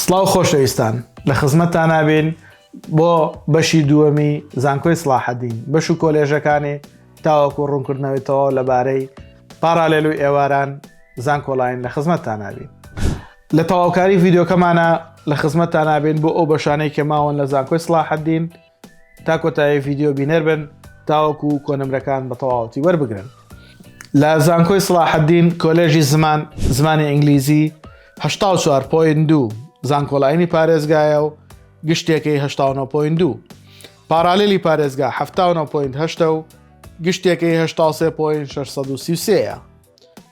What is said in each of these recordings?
سڵاو خۆشەویستان لە خزمەتتانا بین بۆ بەشی دووەمی زانکۆی سڵاحەدین بەش و کۆلێژەکانی تاوەکو ڕوونکردنەوەی تەواو لەبارەی پارالێل و ئێواران زانکۆلاین لە خزمەتتانا بین لە تەواوکاری ڤیددیوکەمانە لە خزمەتتانا بین بۆ ئەو بەشانەی کە ماوەن لە زانکۆی سڵاحەدین و تا کۆتایی ڤیددیو بینەر بن تاوەکو و کۆنمرەکان بە تەواوەتی وەربگرن لە زانکۆی سلاحدین کۆلێژی زمان زمانی ئینگلیزی دو زانکۆلاینی پارێزگایە و گشتێکی دو پارالیلی پارێزگا و گشتێکی ە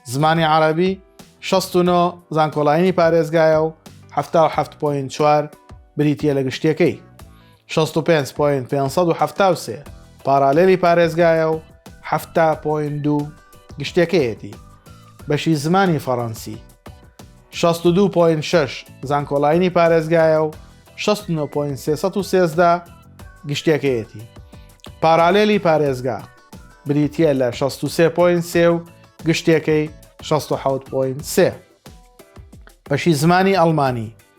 زمانی عربی 16 زانکۆلاینی پارێزگایە و 1970 بریتە لە گشتەکەی شەست و پێنج پۆینت پێنج سەد و حەفتا و سێ پارالێلی پارێزگایە و حەفتا پۆینت دوو گشتەکەیەتی بەشی زمانی فەڕەنسی شەست و دوو پۆینت شەش زانکۆلاینی پارێزگایە و شەست و نۆ پۆینت سێسەد و سێزدە گشتەکەیەتی پارالێلی پارێزگا بریتە لە 63 پوین سێ و گشتێکەی 16 پوین سێ بەشی زمانی ئەڵمانی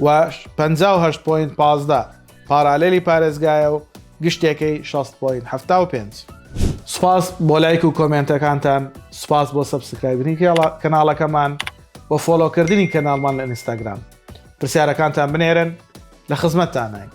و پەنجا و هەشت پۆینت پازدە پارالێلی پارێزگایە و گشتێکەی شەست پۆینت حەفتا و پێنج. سوپاس بۆ لایک و کۆمێنتەکانتان سوپاس بۆ سەبسکرایبنی کەناڵەکەمان و فۆلۆکردنی کەناڵمان لە ئینستاگرام پرسیارەکانتان بنێرن لە خزمەتتانین.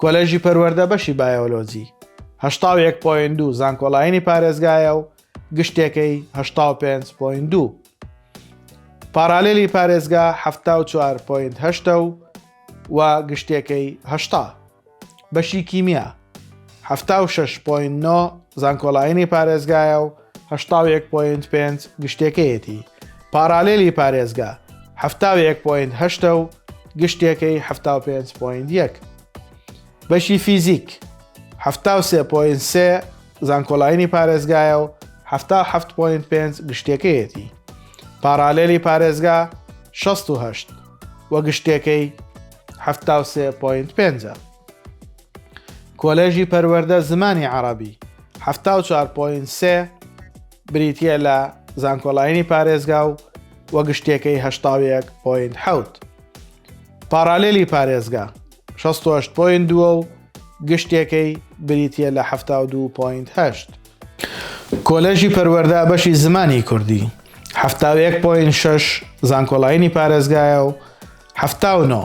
کۆلێژی پەروەردە بەشی بایۆلۆجی هەشتا و یەک پۆین دوو زانکۆلاینی پارێزگایە و گشتێکەی هەشتا و پێنج پۆین دوو پارالێلی پارێزگا هەفتا و چوار پۆینت هەشتە و و گشتێکەی هەشتا بەشی کیمیا هەفتا و شش پۆین نۆ زانکۆلاینی پارێزگایە و هەشتا و یەک پۆینت پێنج گشتێکەیەتی پارالێلی پارێزگا حەفتا و یەک پۆینت هەشتە و گشتێکەی حەفتا و پێنج پۆینت یەک بەشی فیزیک حەفتا و سێ پۆینت سێ زانکۆلاینی پارێزگایە و حەفتا و حەفت پۆینت پێنج گشتێکەیەتی پارالێلی پارێزگا شەست و هەشت وە گشتێکەی حەفتا و سێ پۆینت پێنجە کۆلێژی پەروەردە زمانی عەڕەبی، حەفتا و چوار پۆینت سێ، بریتییە لە زانکۆلاینی پارێزگا و و گشتیەکەی هەشتا و یەک پۆینت حەوت. پاڕالێلی پارێزگا، شەست و هەشت پۆینت دوو و گشتیەکەی بریتییە لە حەفتا و دوو پۆینت هەشت. کۆلێژی پەروەردە بەشی زمانی کوردی، حەفتا و یەک پۆینت شەش، زانکۆلاینی پارێزگایە و حەفتا و نۆ،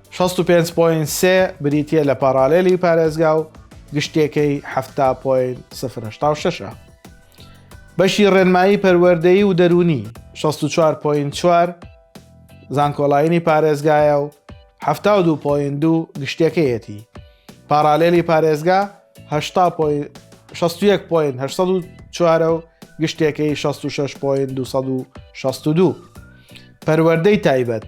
شەست و پێنج پۆینت سێ بریتییە لە پاڕالێلی پارێزگا و گشتیەکەی حەفتا پۆینت سفر هەشتا و شەشە. بەشی ڕێنمایی پەروەردەیی و دەروونی شەست و چوار پۆینت چوار زانکۆلاینی پارێزگایە و حەفتا و دوو پۆینت دوو گشتیەکەیەتی. پاڕالێلی پارێزگا هەشتا پۆینت شەست و یەک پۆینت هەشت سەد و چوارە و گشتیەکەی شەست و شەش پۆینت دوو سەد و شەست و دوو. پەروەردەی تایبەت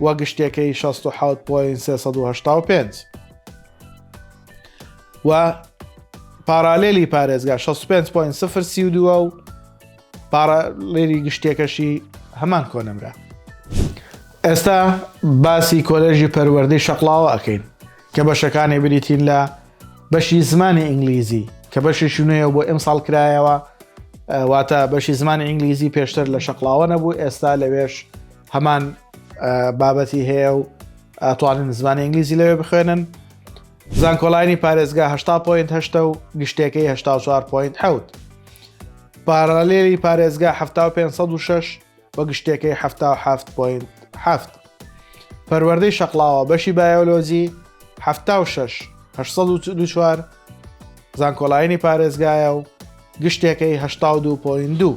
و گشتەکەی 67.385 و پارالێلی پارێزگا 65.032 و پارالێری گشتێکەشی هەمان کۆنمرە ئێستا باسی کۆلێژی پەروەردەی شەقلاوە ئەەکەین کە بەشەکانی بریتین لە بەشی زمانی ئینگلیزی کە بەشی شوێە بۆ ئەم ساڵ کرایەوە واتە بەشی زمانی ئینگلیزی پێشتر لە شەقلاوە نەبوو ئێستا لەوێش هەمان بابەتی هەیە و ئەتوانن زمانی ئینگلیزی لەوێ بخوێنن زانکۆلاینی پارێزگا هشتا پوینت هەشتە و گشتەکەی هشتا چوار پوینت حوت پارالێری پارێزگا ه 506 و گشتەکەی ه پوینت هەفت پەروەردەی شەقلاوە بەشی بایۆلۆجی ه 6 زانکۆلاینی پارێزگایە و گشتەکەی هشتا دو پوین دوو.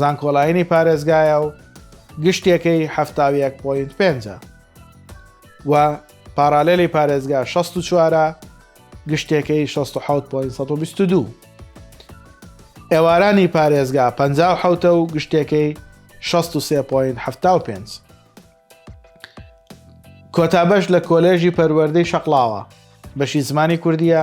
زانکۆلاینی پارێزگایە و گشتیەکەی حەفتا و یەک پۆینت پێنجە و پاراالێلی پارێزگا شەست و چوارە گشتیەکەی شەست و حەوت پۆین سەد و بیست و دوو ئێوارانی پارێزگا پ حوتە و گشتیەکەی شەست و سێ پۆین حەفتا و پێنج کۆتابش لە کۆلێژی پەروەردەی شەقلاوە بەشی زمانی کوردیە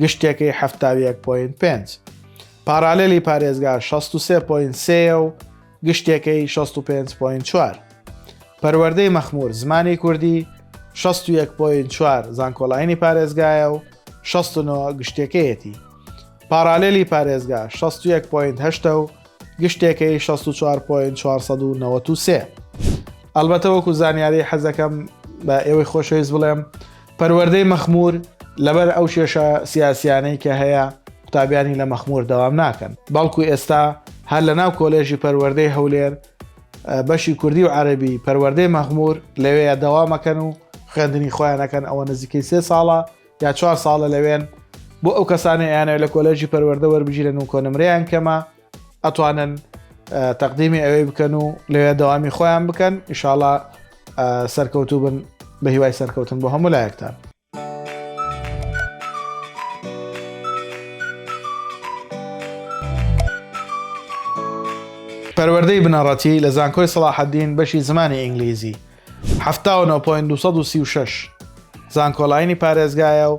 گشتەکەی حەفتا و یەک پۆینت پێنج. پاڕالێلی پارێزگا شەست و سێ پۆینت سێ یە و گشتەکەی شەست و پێنج پۆینت چوار. پەروەردەی مەخموور زمانی کوردی شەست و یەک پۆینت چوار زانکۆلاینی پارێزگایە و شەست و نۆ گشتەکەیەتی. پاڕالێلی پارێزگا شەست و یەک پۆینت هەشتە و گشتەکەی شەست و چوار پۆینت چوار سەد و نەوەت و سێ. ئەڵبەتە وەکوو زانیاری حەزەکەم بە ئێوەی خۆشەویست بڵێم پەروەردەی مەخمور لەبەر ئەو کێشە سیاسیانەی کە هەیە قوتابیانی لە مەخمور دەوام ناکەن بەڵکو ئێستا هەر لە ناو کۆلێژی پەروەردەی هەولێر بەشی کوردی و عەربی پەروەردەی مەخمور لەوەیە دەوامەکەن و خوێندنی خۆیانەکەن ئەوە نزیکەی سێ ساڵە یا چوار ساڵە لەوێن بۆ ئەو کەسانی یانە لە کۆلێژی پەروەردە وەربگیرن و کۆنمریان کەمە ئەتوانن تەقدیمی ئەوەی بکەن و لەوێ دەوامی خۆیان بکەن ئیشاڵا سەرکەوتوو بن بە هیوای سەرکەوتن بۆ هەموو لایەکتان پەروەردەی بنەڕەتی لە زانکۆی سەڵاحەدین بەشی زمانی ئینگلیزی 1970 زانکۆلاینی پارێزگایە و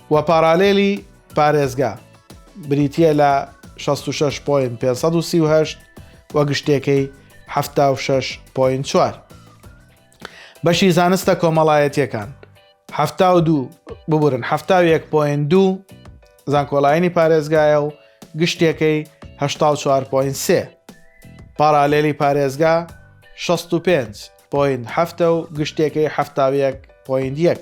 و پارالێلی پارێزگا بریتییە لە شەست و شەش پۆینت پێنج سەد و سی و هەشت و گشتێکەی حەفتا و شەش پۆینت چوار. بەشی زانستە کۆمەڵایەتیەکان هەفتا و دوو ببورن هەفتا و یەک پۆینت دوو زانکۆلاینی پارێزگایە و گشتێکەی هەشتا و چوار پۆینت سێ. پارالێلی پارێزگا شەست و پێنج پۆینت هەفتە و گشتێکەی هەفتا و یەک پۆینت یەک.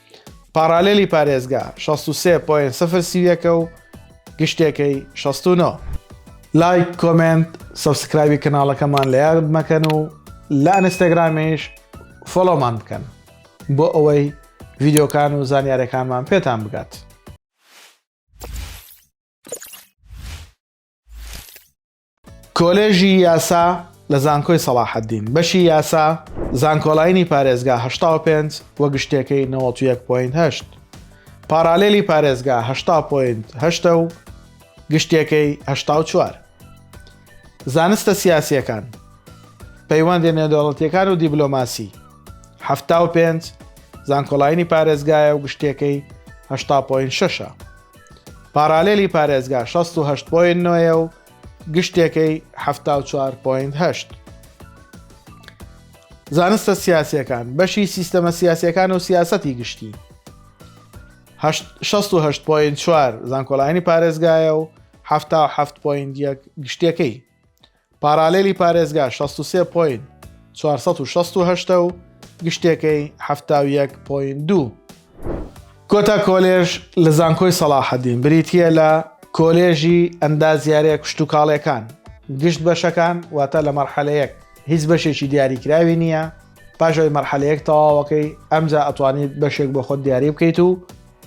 پاڕالێلی پارێزگا شەست و سێ پۆینت سفر سی و یەکە و گشتێکەی شەست و نۆ. لایک کۆمێنت سەبسکرایبی کەناڵەکەمان لە یاد مەکەن و لە ئەنستاگرامیش فۆڵۆمان بکەن بۆ ئەوەی ڤیدیۆکان و زانیارەکانمان پێتان بگات. کۆلێژی یاسا لە زانکۆی سەڵاحەدین، بەشی یاسا، زانکۆلاینی پارێزگا هەشتا و پێنج و گشتیەکەی نەوەت و یەک پۆینت هەشت. پارالێلی پارێزگا هەشتا پۆینت هەشتە و گشتیەکەی هەشتا و چوار. زانستە سیاسیەکان، پەیوەندیە نێودەوڵەتیەکان و دیبلۆماسی، حەفتا و پێنج، زانکۆلاینی پارێزگایە و گشتیەکەی هەشتا پۆینت شەشە. پاڕالێلی پارێزگا شەست و هەشت پۆینت نۆیە و گشتێکەی حەفتا و چوار پۆینت هەشت. زانستە سیاسیەکان بەشی سیستەمە سیاسیەکان و سیاسەتی گشتی شەست و هەشت پۆینت چوار زانکۆلاینی پارێزگایە و حەفتا و حەفت پۆینت یەک گشتێکەی. پارالێلی پارێزگا شەست و سێ پۆینت چوار سەد و شەست و هەشت و گشتێکەی حەفتا و یەک پۆینت دوو. کۆتا کۆلێژ لە زانکۆی سەڵاحەدین بریتییە لە کۆلێژی ئەندازیارییە کشتوکاڵییەکان، گشت بەشەکان، واتە لە مەرحەلە یەک هیچ بەشێکی دیاریکراوی نییە، پاش ئەوەی مەرحەلە یەک تەواوەکەی ئەمجا ئەتوانیت بەشێک بۆ خۆت دیاری بکەیت و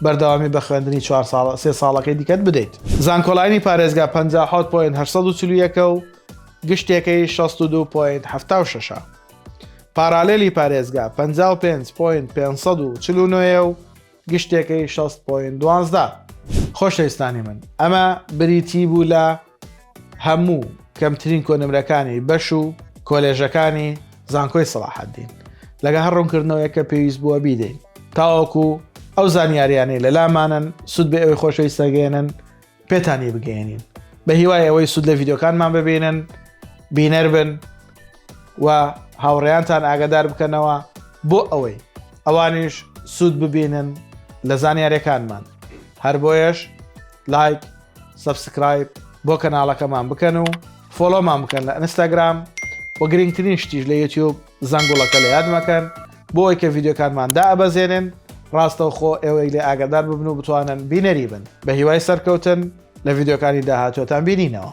بەردەوامی بە خوێندنی چوار ساڵە سێ ساڵەکەی دیکەت بدەیت. زانکۆلاینی پارێزگا پەنجا و حەوت پۆینت هەشت سەد و چل و یەک ە و گشتێکەی شەست و دوو پۆینت حەفتا و شەش ە. پارالێلی پارێزگا پەنجا و پێنج پۆینت پێنج سەد و چل و نۆ ە و گشتێکەی شەست پۆینت دوازدە. خۆشەویستانی من ئەمە بریتی بوو لە. هەموو کەمترین کۆنمرەکانی بەش و کۆلێژەکانی زانکۆی سەڵاحەدین لەگە هەر ڕوونکردنەوەیە کە پێویست بووە بیدەین تاوەکو ئەو زانیاریانەی لە لامانن سوود بە ئەوەی خۆشەویستەگەێنن پێتانی بگەێنین بە هیوای ئەوەی سوود لە یددیوکانمان ببینن بینەر بن و هاوڕێیانتان ئاگدار بکەنەوە بۆ ئەوەی ئەوانیش سوود ببینن لە زانیارەکانمان هەر بۆیەش لایک سەبسکرایب بۆ کەناڵەکەمان بکەن و فۆلۆمان بکەن لە ئەنستاگرام و گرنگترین شتیش لە یوتیوب زەنگوڵەکە لە یادمەکەن بۆ ئەوی کە ڤیددیوکانمان دا ئەبەزێنن ڕاستەوخۆ ئێوەی لێ ئاگادار ببن و بتوانن بینەری بن بە هیوای سەرکەوتن لە ڤیددیوکانی داهاتوەتان بینینەوە.